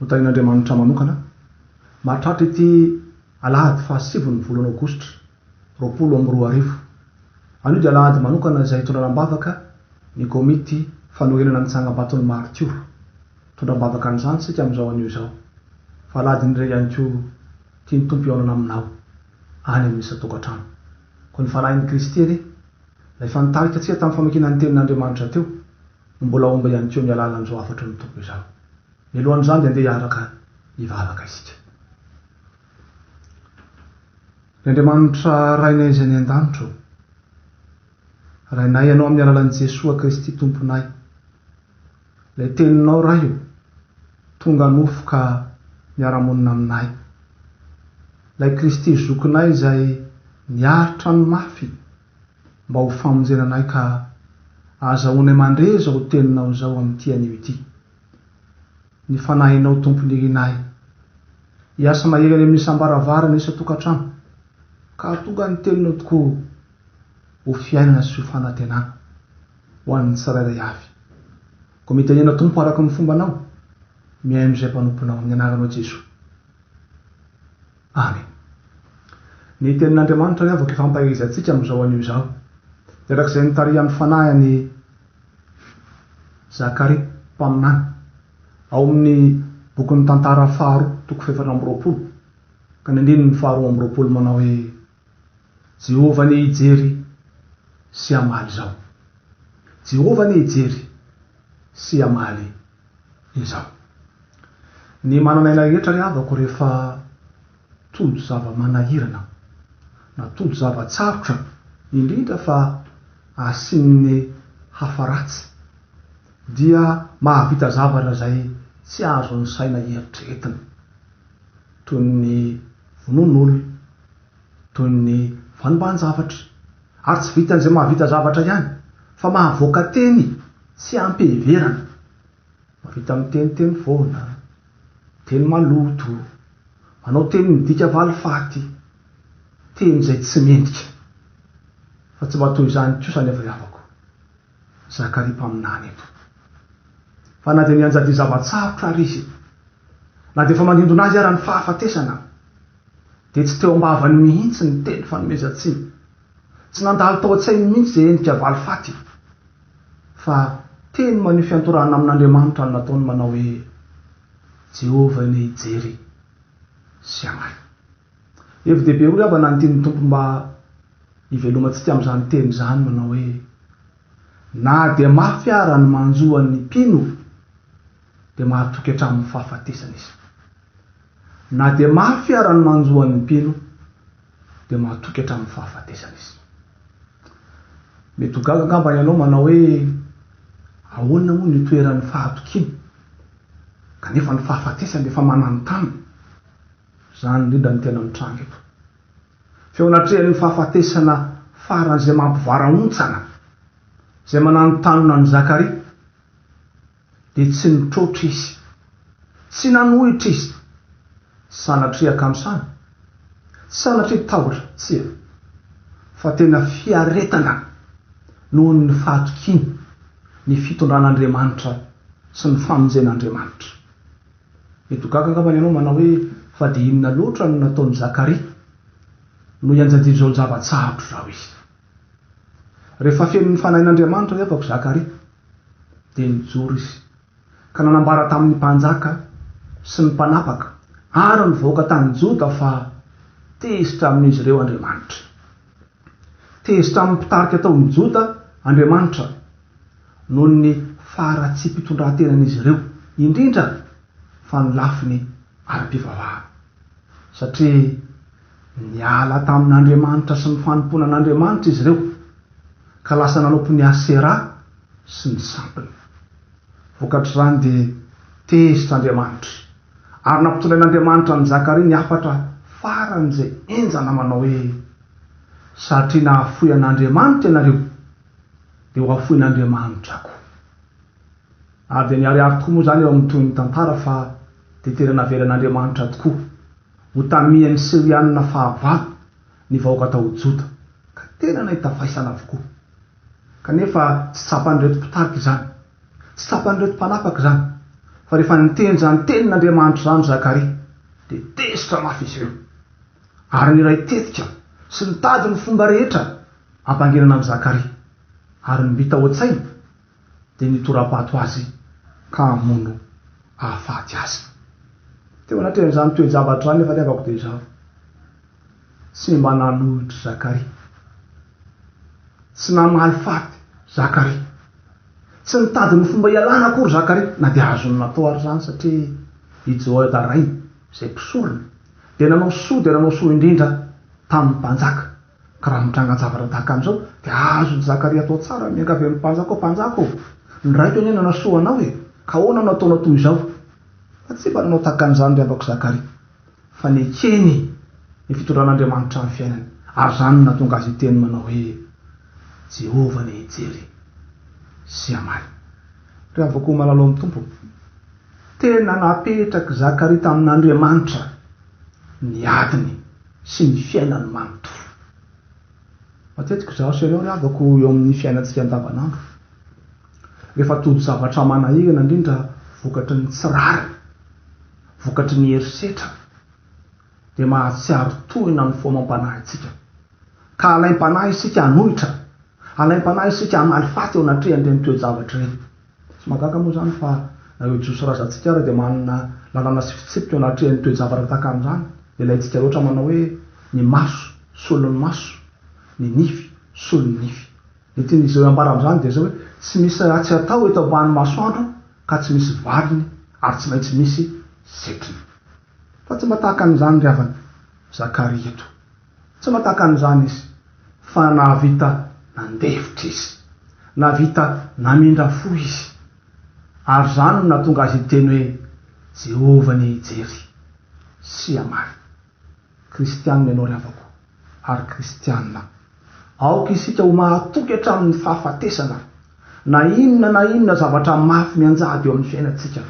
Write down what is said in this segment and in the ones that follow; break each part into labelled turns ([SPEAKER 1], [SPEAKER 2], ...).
[SPEAKER 1] Notahian'Andriamanitra manokana mahatratra ity alahady fahasivy ny volana aogositra roapolo amby roa arivo. Anio dia alahady manokana izay hitondrana am-bavaka ny komity fanorenana ny tsangambaton'ny maritiora. Mitondra am-bavaka an'izany isika amin'izao anio izao. Fa alahadin'ny re ihany koa tian'ny Tompo hihaonana aminao any amin'ny isan-tokantrano. Koa ny fanahin'i Kristy anie, ilay efa nitarika antsika tamin'ny famakiana ny Tenin'Andriamanitra teo, no mbola homba ihany koa amin'ny alalan'izao hafatry ny Tompo izao. Mialohan'izany dia andeha hiaraka hivavaka isika. Ry Andriamanitra Rainay izay any an-danitra ô, Rainay Ianao amin'ny alalan'i Jesoa Kristy Tomponay. Ilay Teninao Ray ô, tonga nofo ka miara-monina aminay. Ilay Kristy Zokinay izay niaritra ny mafy mba ho famonjena anay ka azahoanay mandre izao Teninao izao amin'ity anio ity. ny Fanahinao Tompo Nirinahy. Hiasa mahery any amin'ny isam-baravarana, isan-tokantrano, ka hahatonga ny Teninao tokoa ho fiainana sy ho fanantenana ho an'ny tsirairay avy. Koa mitenena Tompo araka ny fombanao, mihaino izay mpanomponao, amin'ny anaranao Jesoa. Amen. Ny tenin'Andriamanitra ny avaka ifampaherizantsika amin'izao anio izao. Erak'izay nitarihan'ny Fanahy an'i Zakaria mpaminany, ao amin'ny bokin'ny Tantara faharoa, toko fahefatra amby roapolo, ka ny andininy faharoa amby roapolo manao hoe. Jehovah anie hijery sy hamaly izao. Jehovah anie hijery sy hamaly izao. Ny manan'aina rehetra ry havako rehefa tojo zava-manahirana na tojo zava-tsarotra indrindra fa asian'ny hafa ratsy dia mahavita zavatra izay tsy azon'ny saina eritreretina toy ny vonoan'olona, toy ny vanombahan-javatra, ary tsy vitan'izay mahavita zavatra ihany, fa mahavoaka teny tsy am-piheverana, mahavita miteny teny foana, teny maloto, manao teny midika valifaty, teny izay tsy mendrika. Fa tsy mba toy izany kosa anefa ny havako. Zakaria mpaminany eto. Fa na dia nianjadian'ny zava-tsarotra àry izy, na dia efa manindona azy àry ny fahafatesana, dia tsy teo am-bavany mihitsy ny teny fanomezan-tsiny. Tsy nandalo tao an-tsainy mihitsy izay endrika valifaty, fa teny maneho fiantorana amin'Andriamanitra no nataony manao hoe, Jehovah anie hijery sy hanahy. Hevi-dehibe roa havana ny tian'ny Tompo mba Ivelomantsika amin'izany teny izany manao hoe, Na dia mafy ara ny manjo an'ny mpino, dia mahatoky hatramin'ny fahafatesana izy. Na dia mafy ara ny manjo an'ny mpino, dia mahatoky hatramin'ny fahafatesana izy. Mety ho gaga angamba ianao manao hoe, Ahoana moa ny itoeran'ny fahatokiana, kanefa ny fahafatesana efa mananontanona? Izany indrindra no tena mitranga eto. Feo natrehan'ny fahafatesana faran'izay mampivarahontsana, izay mananontanona an'i Zakaria, dia tsy nitroatra izy, tsy nanohitra izy, sanatria akanosana, sanatria tahotra, tsia, fa tena fiaretana noho ny fahatokiany ny fitondran'Andriamanitra sy ny famonjen'Andriamanitra. Eto gaga angambany ianao manao hoe fa dia inona loatra no nataon'i Zakaria no ianjadian'izao ny zava-tsarotra izao izy? Rehefa fenon'ny Fanahin'Andriamanitra ny ampako Zakaria dia nijoro izy ka nanambara tamin'ny mpanjaka sy ny mpanapaka ary ny vahoaka tany Joda fa tezitra amin'izy ireo Andriamanitra. Tezitra amin'ny mpitarika tao amin'ny Joda Andriamanitra noho ny faharatsiam-pitondran-tenan'izy ireo, indrindra fa ny lafiny ara-pivavahana. Satria niala tamin'Andriamanitra sy ny fanompoana an'Andriamanitra izy ireo, ka lasa nanaopy ny Asera sy ny sampiny. Vokatr'izany dia tezitra Andriamanitra. Ary nampitondrain'Andriamanitra an'i Zakaria ny hafatra faran'izay henjana manao hoe, Satria nahafoy an'Andriamanitra ianareo, dia hohafoin'Andriamanitra koa. Ary dia niharihary tokoa moa izany eo amin'ny tohin'ny tantara fa dia tena navelan'Andriamanitra tokoa ho tamihan'ny Sirianina fahavalo ny vahoaka tao Joda, ka tena nahita faisana avokoa. Kanefa tsy tsapan'ireto mpitarika izany. Tsy tsapan'ireto mpanapaka izany, fa rehefa niteny izany tenin'Andriamanitra izany Zakaria, dia tezitra mafy izy ireo, ary niray tetika sy nitady ny fomba rehetra hampanginana an'i Zakaria, ary ny mbita ao an-tsainy dia ny hitora-bato azy ka hamono hahafaty azy. Teo anatrehan'izany toe-javatra izany ny fahatiavako dia izao. Semba nanolotry Zakaria. Tsy namaly faty Zakaria. Tsy nitady ny fomba hialana akory Zakaria, na dia azony natao àry izany, satria i Jehoiada rainy, izay mpisorona, dia nanao soa dia nanao soa indrindra tamin'ny mpanjaka. Ka raha mitranga zavatra tahaka an'izao, dia azon'i Zakaria atao tsara ny miangavy amin'ny mpanjaka hoe, Mpanjaka ô, ny raiko anie nanasoa anao e! ka ahoana no ataonao toy izao? Fa tsy mba nanao tahaka an'izany ry abako Zakaria. fa nekeny ny fitondran'Andriamanitra ny fiainany, ary izany no nahatonga azy hiteny manao hoe, Jehovah anie hijery sy hamaly. Ry havako malala ao amin'ny Tompo, tena napetrak'i Zakaria tamin'Andriamanitra ny adiny sy ny fiainany manontolo. Matetika izaho sy ianao ry havako eo amin'ny fiainantsika andavanandro, rehefa todi-javatra manahirana indrindra vokatry ny tsy rariny, Vokatry ny herisetra dia mahatsiaro tohina ny foamam-panahintsika, ka alaim-panahy isika hanohitra, alaim-panahy isika hamaly faty eo anatrehan'ireny toe-javatra ireny. Tsy mahagaga moa izany fa na ireo Jiosy razantsika ary dia manana lalàna sy fitsipika eo anatrehan'ny toe-javatra tahaka an'izany. Ilaintsika loatra ny manao hoe, Ny maso, solon'ny maso, ny nify, solon'ny nify. Ny tian'izy ireo hambarany izany dia izao hoe, Tsy misy ratsy atao eto ambanin'ny masoandro ka tsy misy valiny ary tsy maintsy misy setriny. Fa tsy mba tahaka an'izany ry havana Zakaria eto. Tsy mba tahaka an'izany izy, fa nahavita nandefitra izy. Nahavita namindra fo izy. Ary izany no nahatonga azy hiteny hoe, Jehovah anie hijery, sy hamaly. Kristianina ianao ry havako, ary Kristianina aho. Aoka isika ho mahatoky hatramin'ny fahafatesana, na inona na inona zavatra mafy mianjady eo amin'ny fiainantsika.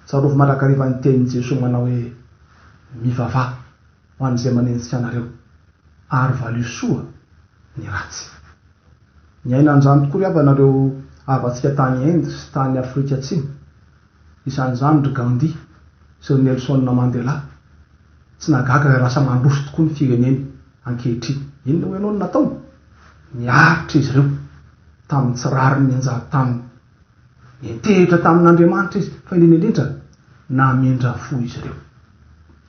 [SPEAKER 1] Tsarovy mandrakariva ny tenin'i Jesoa manao hoe, Mivavaha ho an'izay manenjika anareo, ary valio soa ny ratsy. Niaina an'izany tokoa ry havanareo havantsika tany Inde sy tany Afrika Atsimo. Izany izany ry Gandhi sy ry Nelson Mandela. Tsy nahagaga raha lasa mandroso tokoa ny fireneny ankehitriny. Inona hoy ianao no nataony? Niaritra izy ireo tamin'ny tsy rariny nianjady taminy. Nintehitra tamin'Andriamanitra izy, fa indrindra indrindra, namindra fo izy ireo.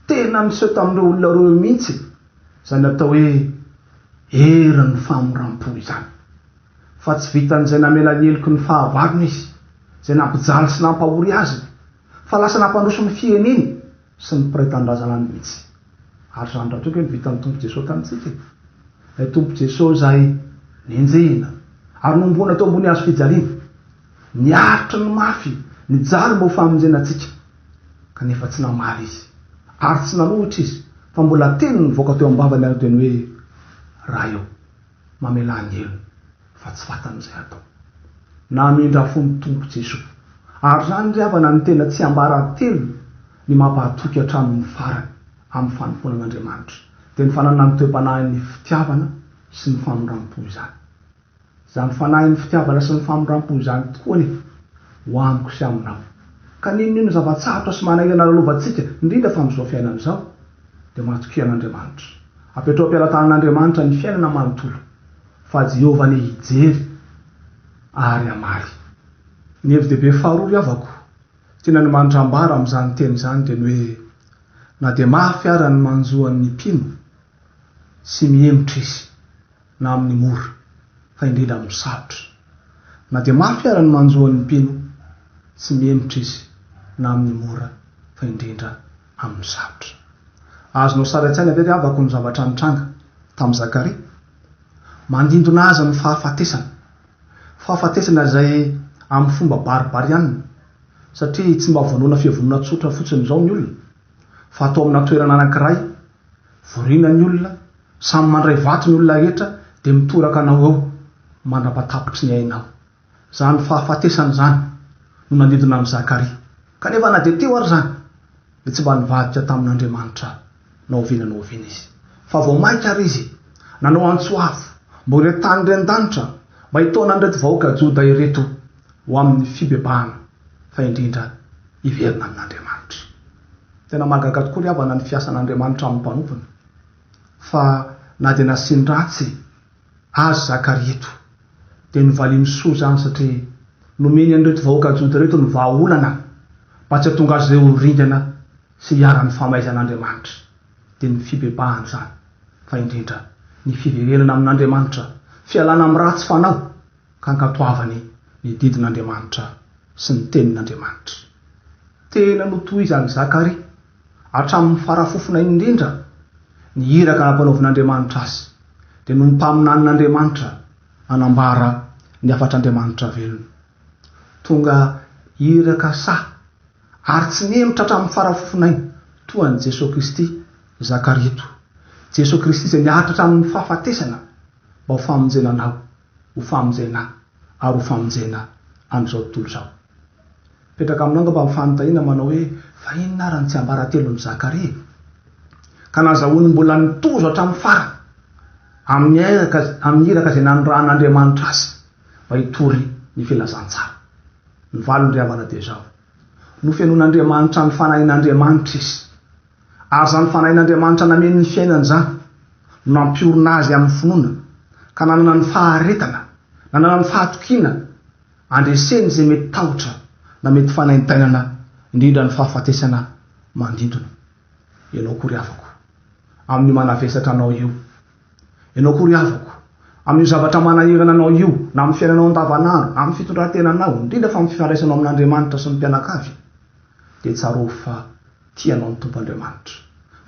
[SPEAKER 1] Tena niseho tamin'ireo olona roa ireo mihitsy izany atao hoe herin'ny famoram-po izany. Fa tsy vitan'izay namela ny heloky ny fahavalony izy, izay nampijaly sy nampahory azy, fa lasa nampandroso ny fireneny sy ny mpiray tanindrazana mihitsy. Ary izany rahateo kay no vitan'ny Tompo Jeso tamintsika e! Ilay Tompo Jeso izay nenjehina ary nohomboana teo ambony hazo fijaliana, niaritra ny mafy nijaly mba ho famonjena antsika, kanefa tsy namaly Izy ary tsy nanohitra Izy fa mbola teny nivoaka teo am-bavany ary dia ny hoe, Ray ô! mamelan-delo fa tsy fantany izay hatao. Namindra fo ny Tompo Jesoa. Ary izany ry havana no tena tsiambaratelo ny mampahatoky hatramin' ny farany amin' ny fanompoana an' Andriamanitra, dia ny fananana ny toe-panahin' ny fitiavana sy ny famoram-po izany. Izany fanahin' ny fitiavana sy ny famoram-po izany tokoa anefa ho amiko sy aminao. Ka n'inon'inona zava-tsarotra sy manahirana lalovantsika, indrindra fa amin' izao fiainana izao, dia matokia an'Andriamanitra. Apetraho am-pelatanan'Andriamanitra ny fiainana manontolo, fa Jehovah anie hijery ary hamaly. Ny hevi-dehibe faharoa ry havako tian'Andr manitra ambara amin'izany teny izany dia ny hoe na dia mafy ara ny manjo an'ny mpino sy mihemotra izy na amin'ny mora fa indrindra amin'ny sarotra, na dia mafy ara ny manjo an'ny mpino sy mihemotra izy na amin'ny mora fa indrindra amin'ny sarotra. Azonao sary an-tsaina ve ry havako ny zavatra nitranga tamin'i Zakaria? Mandindona azy amin'ny fahafatesana. Fahafatesana izay amin'ny fomba baribarianina, satria tsy mba vonoina fiavonoana tsotra fotsiny izao ny olona, fa atao amina toerana anankiray, voriana ny olona, samy mandray vato ny olona rehetra dia mitoraka anao eo mandra-patapitry ny ainao. Izany fahafatesana izany no nanidina an'i Zakaria. Kanefa na dia teo ary izany, dia tsy mba nivadika tamin'Andriamanitra na oviana na oviana izy. Fa vao mainka àry izy nanao antso avo momba ireo tany ren-danitra mba hitaona an'ireto vahoaka Joda ireto ho amin'ny fibebahana, fa indrindra hiverina amin'Andriamanitra. Tena mahagaga tokoa ry havana ny fiasan'Andriamanitra amin'ny mpanompony. Fa na dia nasiany ratsy Azy Zakaria eto. Dia novalian'i Soa izany satria nomeny an'ireto vahoaka Joda ireto ny vahaolana mba tsy hahatonga azy ireo ho ringana sy hiharan'ny famaizan'Andriamanitra. Dia ny fibebahana izany, fa indrindra ny fiverenana amin'Andriamanitra, fialana amin'ny ratsy fanao ka ankatoavany ny didin'Andriamanitra sy ny tenin'Andriamanitra. Tena notohizan'i Zakaria Hatramin'ny farafofona indrindra, ny iraka nampanaovin'Andriamanitra azy dia noho ny mpaminanin'Andriamanitra nanambara ny hafatr'Andriamanitra velona. Tonga iraka sahy ary tsy nihemotra hatramin'ny farafofonainy toa an'i Jesoa Kristy i Zakaria eto. Jesoa Kristy izay niaritra hatramin'ny fahafatesana mba ho famonjena anao. ho famonjena ahy ary ho famonjena an'izao tontolo izao. Mipetraka aminao angamba ny fanontaniana manao hoe, Fa inona ary ny tsiambaratelon'i Zakaria? Ka nazahoany mbola nitozo hatramin'ny farany amin'ny iraka izay nanirahan'Andriamanitra azy mba hitory ny filazantsara. Ny valiny ry havana dia izao, Nofenoin'Andriamanitra ny fanahin'Andriamanitra izy. Ary izany Fanahin'Andriamanitra nameno ny fiainany izany no nampiorina azy amin'ny finoana, ka nanana ny faharetana, nanana ny fahatokiana handreseny izay mety tahotra na mety fanaintainana, indrindra ny fahafatesana mandindona. Ianao koa ry havako, amin'io manavesatra anao io, Ianao koa ry havako, amin'io zavatra manahirana anao io, na amin'ny fiainanao andavanandro, na amin'ny fitondran-tenanao, indrindra fa amin'ny fifandraisanao amin'Andriamanitra sy ny mpianakavy, dia tsarovy fa tia anao ny Tompo Andriamanitra.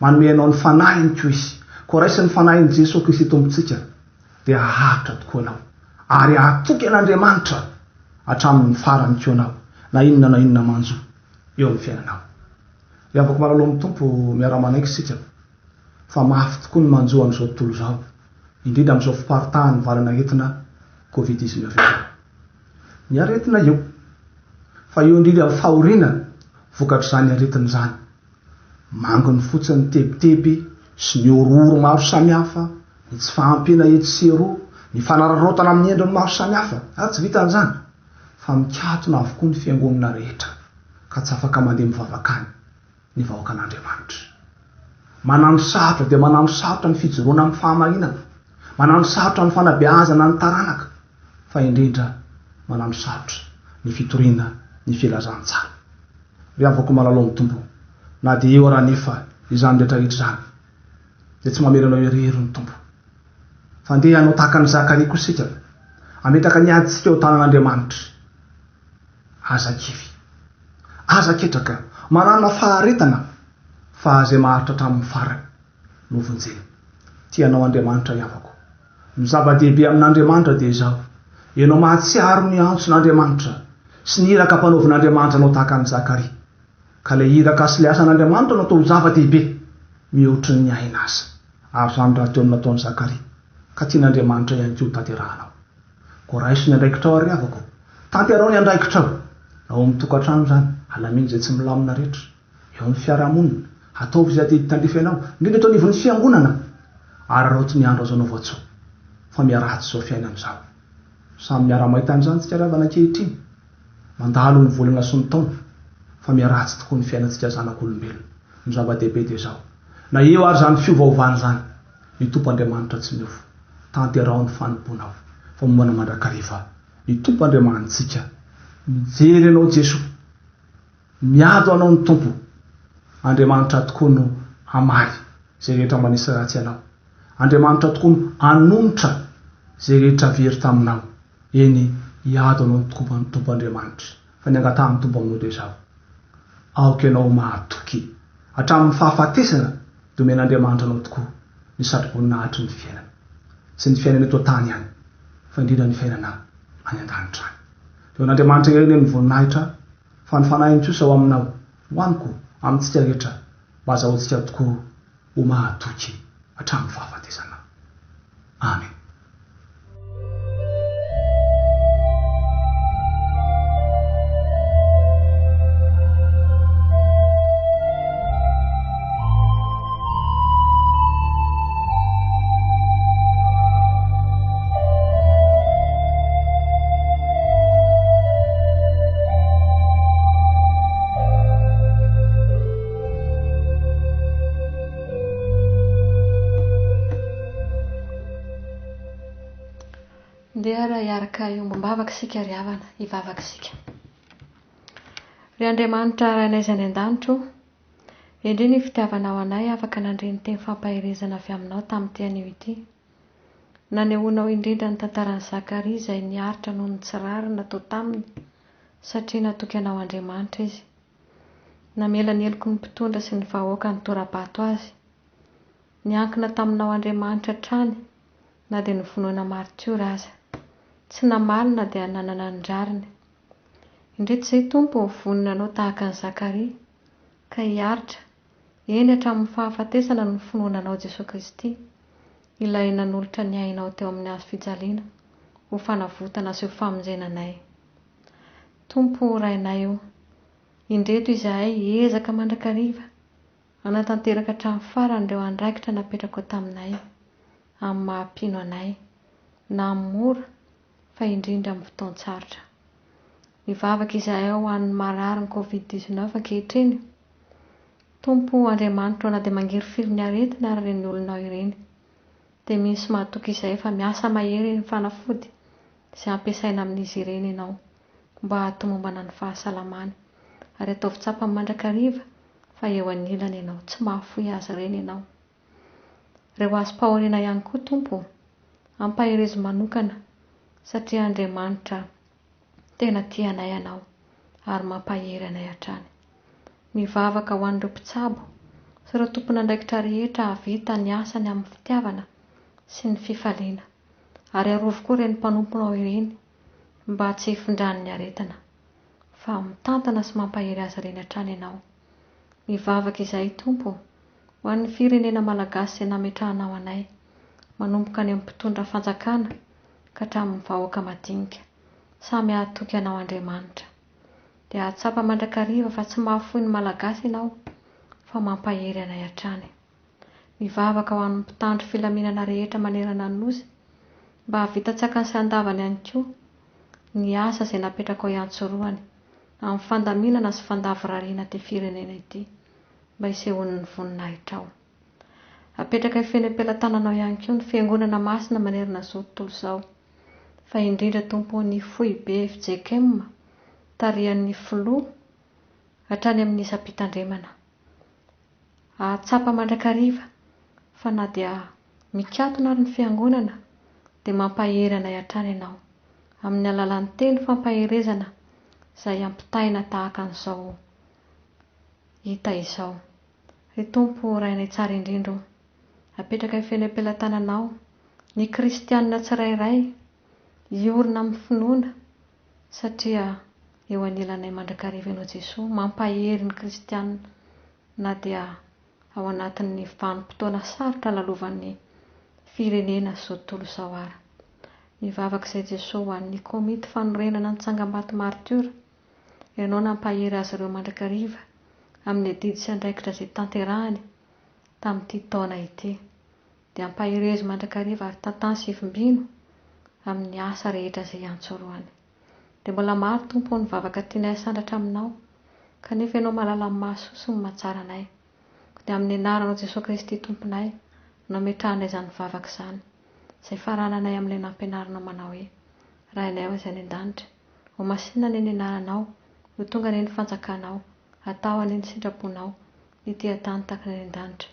[SPEAKER 1] Manome anao ny Fanahiny koa Izy. Koa raisin'ny Fanahin'i Jesoa Kristy Tompontsika, dia haharitra tokoa ianao, ary hahatoky an'Andriamanitra hatramin'ny farany koa ianao, na inona na inona manjo eo amin'ny fiainanao. Ry havako malala ao amin'ny Tompo, miara-manaiky isika. fa mafy tokoa ny manjo an'izao tontolo izao, indrindra amin'izao fiparitahan'ny valanaretina Covid dix neuf izao. Ny aretina eo, fa eo indrindra ny fahoriana vokatr'izany aretina izany. Manginy fotsiny ny tebiteby sy ny horohoro maro samihafa, ny tsy fahampiana etsy sy eroa, ny fanararaotana amin'ny endriny maro samihafa, ary tsy vitan'izany, fa mikatona avokoa ny fiangonana rehetra, ka tsy afaka mandeha mivavaka any. ny vahoakan'Andriamanitra. Manano sarotra dia manano sarotra ny fijoroana amin'ny fahamarinana, manano sarotra amin'ny fanabeazana ny taranaka, fa indrindra manano sarotra ny fitoriana ny filazantsara. Ry havako malala ao amin'ny Tompo, na dia eo ary anefa izany rehetra rehetra izany, dia tsy mamela anao irery ny Tompo. Fa andeha hanao tahaka an'i Zakaria koa isika, hametraka ny adintsika ao tanan'Andriamanitra. Aza kivy. Aza ketraka. Manana faharetana fa izay maharitra hatramin'ny farany no vonjena. Tia anao Andriamanitra ry havako. Ny zava-dehibe amin'Andriamanitra dia izao, ianao mahatsiaro ny antson'Andriamanitra sy ny iraka ampanaovin'Andriamanitra anao tahaka an'i Zakaria. Ka ilay iraka sy ilay asan'Andriamanitra no atao ho zava-dehibe mihoatry ny aina aza. Ary izany rahateo no nataon'i Zakaria. Ka tian'Andriamanitra ihany koa ho tanterahanao. Koa raiso ny andraikitrao ary havako. Tanterao ny andraikitrao. Ao amin'ny tokantrano izany, halamino izay tsy milamina rehetra. Eo amin'ny fiarahamonina, hataovy izay adidy tandrify anao, indrindra eto anivon'ny fiangonana. Araraoty ny andro azaonao voatsoa. Fa miharatsy izao fiainana izao. Samy miara-mahita an'izany isika ry havana ankehitriny. Mandalo ny volana sy ny taona. Fa miharatsy tokoa ny fiainantsika zanak'olombelona. Ny zava-dehibe dia izao. Na eo ary izany fiovaovana izany. Ny Tompo Andriamanitra tsy miofo, tanteraho ny fanompoanao famonoana mandrakariva. Ny Tompo Andriamanitsika mijery anao Jesoa, miado anao ny Tompo. Andriamanitra tokoa no hamaly izay rehetra manisy ratsy anao. Andriamanitra tokoa no hanonitra izay rehetra very taminao. Eny, hiado anao ny Tompo Andriamanitra. Fa ny angatahan'i Tompo aminao dia izao, Aoka ianao mahatoky hatramin'ny fahafatesana dia omen'Andriamanitra anao tokoa ny satroboninahitry ny fiainana sy ny fiainana eto an-tany ihany fa indrindra ny fiainana any an-danitra any. Dia ho an'Andriamanitra irery anie ny voninahitra fa ny Fanahiny kosa ho aminao, ho amiko, amintsika rehetra mba hazahoantsika tokoa Ho mahatoky hatramin'ny fahafatesana. Amen.
[SPEAKER 2] Ndeha ry hiaraka hiombom-bavaka isika ry havana, hivavaka isika. Ry Andriamanitra Rainay izay any an-danitro, endrey ny fitiavanao anay afaka nandre ny teny fampaherezana avy aminao tamin'ity anio ity. Nanehoanao indrindra ny tantaran'i Zakaria izay niaritra noho ny tsy rariny natao taminy satria natoky anao Andriamanitra izy. Namela ny heloky ny mpitondra sy ny vahoaka nitora-bato azy. Niankina taminao Andriamanitra hatrany na dia novonoina maritiora aza. Tsy namaly na dia nanana ny rariny. Indrisy izay Tompo ny vonona anao tahaka an'i Zakaria, ka hiaritra, eny hatramin'ny fahafatesana ny finoana anao Jesoa Kristy, Ilay nanolotra ny ainao teo amin'ny hazo fijaliana ho fanavotana sy ho famonjena anay. Tompo o Rainay o, indreto izahay hiezaka mandrakariva hanatanteraka hatramin'ny farany ireo andraikitra napetrako taminay, amin'ny maha-mpino anay, na amin'ny mora fa indrindra amin'ny fotoan-tsarotra. Mivavaka izahay ho an'ny mararin'ny covid dix-neuf ankehitriny. Tompo o Andriamanitro o na dia mangirifiry ny aretina ary ireny olonao ireny. dia misy mahatoky izay efa miasa mahery eny fanafody izay ampiasaina amin'izy ireny ianao mba hahatomombana ny fahasalamany. Ary ataovy tsapany mandrakariva fa eo anilany ianao, tsy mahafoy azy ireny ianao. Reo hazom-pahoriana ihany koa, Tompo ô, ampaherezo manokana, satria Andriamanitra Tena tianay anao ary mampahery anay hatrany. Mivavaka ho an'ireo mpitsabo sy ireo tompon'andraikitra rehetra hahavita ny asany amin'ny fitiavana sy ny fifaliana, ary arovy koa ireny mpanomponao ireny mba tsy hifindran'ny aretina, fa mitantana sy mampahery azy ireny hatrany ianao. Mivavaka izahay Tompo ho an'ny firenena Malagasy izay nametrahanao anay, manomboka any amin'ny mpitondra fanjakana ka hatramin'ny vahoaka madinika, samy hahatoky anao Andriamanitra. Dia hahatsapa mandrakariva fa tsy mahafoy ny Malagasy ianao fa mampahery anay hatrany. Mivavaka ho an'ny mpitandro filaminana rehetra manerana ny Nosy mba hahavita tsy akany sy andavany ihany koa ny asa izay napetrakao iantsorohany amin'ny fandaminana sy fandavorariana ity firenena ity mba hisehoany ny voninahitrao. Apetraka hifehy ny am-pelatananao ihany koa ny Fiangonana Masina manerana izao tontolo izao fa indrindra Tompo ny Foibe fjkm tarihan'ny Filoha hatrany amin'ny isam-pitandremana Hahatsapa mandrakariva fa na dia mikatona ary ny Fiangonana dia mampahery anay hatrany ianao, amin'ny alalan'ny teny fampaherezana izay ampitaina tahaka an'izao hita izao. Ry Tompo Rainay Tsara Indrindra o, apetrakay feno am-pelatananao ny kristianina tsirairay hiorina amin'ny finoana, Satria eo anilanay mandrakariva ianao Jesoa, mampahery ny kristiana na dia ao anatin'ny vanim-potoana sarotra lalovan'ny firenena zao tontolo izao ara. Mivavaka izay Jesoa ho an'ny komity fanorenana ny tsangambato maritiora, ianao nampahery azy ireo mandrakariva amin'ny adidy sy andraikitra izay tanterahany tamin'ity taona ity. Dia ampaherezo mandrakariva ary tantano sy vimbino amin'ny asa rehetra izay iantsoroany. Dia mbola maro, Tompo ô, ny vavaka tianay hasandratra Aminao, kanefa Ianao mahalala ny mahasoa sy ny mahatsara anay. Koa dia amin'ny Anaranao Jesoa Kristy Tomponay no ametrahanay izany vavaka izany, izay farananay amin'ilay nampianarinao manao hoe, Rainay ao Izay any An-danitra, Homasinina anie ny Anaranao, ho tonga anie ny Fanjakanao, hatao anie ny sitraponao, Ny dian-tany takina any an-danitra.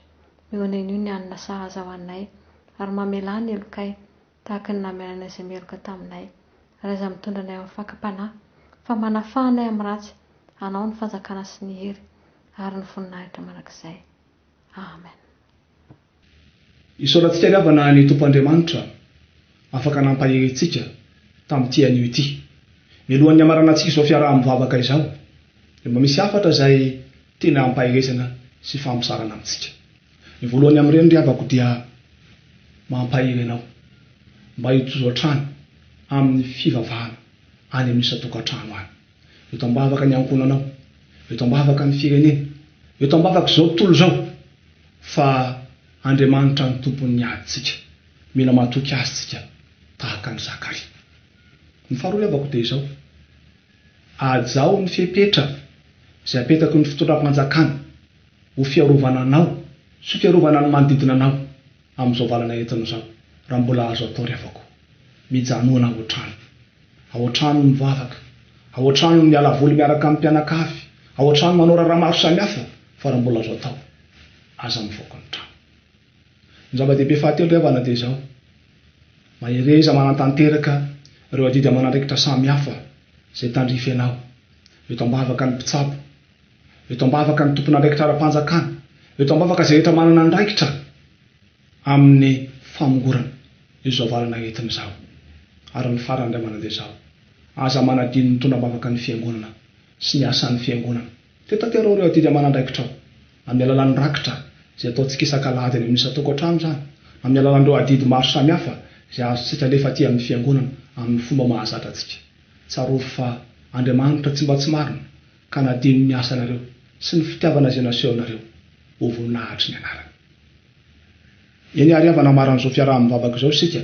[SPEAKER 2] Mihoan'ain'io ny hanina sahaza ho anay, ary mamelà ny helokay, tahaka ny namelanay izay meloka taminay. Ary aza mitondra anay amin'ny fakam-panahy, fa manafaha anay amin'ny ratsy, anao ny fanjakana sy ny hery, ary ny voninahitra mandrakizay. Amen.
[SPEAKER 1] Isaorana antsika ry havana ny Tompo Andriamanitra afaka nampahery antsika tamin'ity anio ity. Mialohan'ny hamarana antsika izao fiaraha-mivavaka izao dia mba misy hafatra izay tena ampaherezana sy fahamosarana amintsika. Ny voalohany amin'ireny ry havako dia mampahery anao mba hitozo hatrany amin'ny fivavahana any amin'ny isan-tokantrano any. Eto am-bavaka ny ankohonanao, eto am-bavaka ny firenena, eto am-bavaka izao tontolo izao, fa Andriamanitra no Tompon'ny adintsika. Mila matoky Azy tsika tahaka an'i Zakaria. Ny faharoa ilevako dia izao, Ajaho ny fepetra izay apetaky ny fitondram-panjakana ho fiarovana anao sy ho fiarovana ny manodidina anao amin'izao valanaentina izao, raha mbola azo atao ry havako. Mijanona ao an-trano. Ao an-trano mivavaka, ao an-trano miala voly miaraka amin'ny mpianakavy, ao an-trano manao raharaha maro samihafa fa raha mbola azo atao, aza mivoaka ny trano. Ny zava-dehibe fahatelo ry havana dia izao, mahereza manatanteraka ireo adidy aman'andraikitra samihafa izay tandrify anao, eto am-bavaka ny mpitsabo, eto am-bavaka ny tompon'andraikitra ara-panjakana, eto am-bavaka izay rehetra manana andraikitra amin'ny famongorana izao valana entiny izao ary ny farany indray mandeha izao, aza manadino ny tonam-bavaka ny Fiangonana sy ny asan'ny Fiangonana. Titaterao ireo adidy aman'andraikitrao amin'ny alalan'ny rakitra izay ataontsika isak'alahady any amin'ny isan-tokantrano izany, amin'ny alalan'ireo adidy maro samihafa izay azontsika alefa aty amin'ny Fiangonana amin'ny fomba mahazatra antsika. Tsarovy fa Andriamanitra tsy mba tsy marina Ka na dia ny asanareo sy ny fitiavana izay nasehonareo ho voninahatry ny anarany. Eny àry havana maran'izao fiaraha-mivavaka izao isika,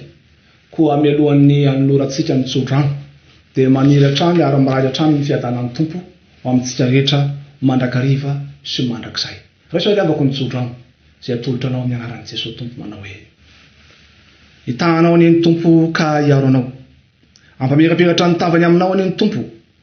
[SPEAKER 1] koa mialohan'ny hanolorantsika ny tsodrano, dia maniry hatrany ary mirary hatrany ny fiadanan'ny Tompo ho amintsika rehetra mandrakariva sy mandrakizay. Raiso àry havako ny tsodrano izay atolotra anao amin'ny anaran'i Jesoa Tompo manao hoe, Hitahanao anie ny Tompo ka hiaro anao. Hampamirapiratra ny tavany aminao anie ny Tompo.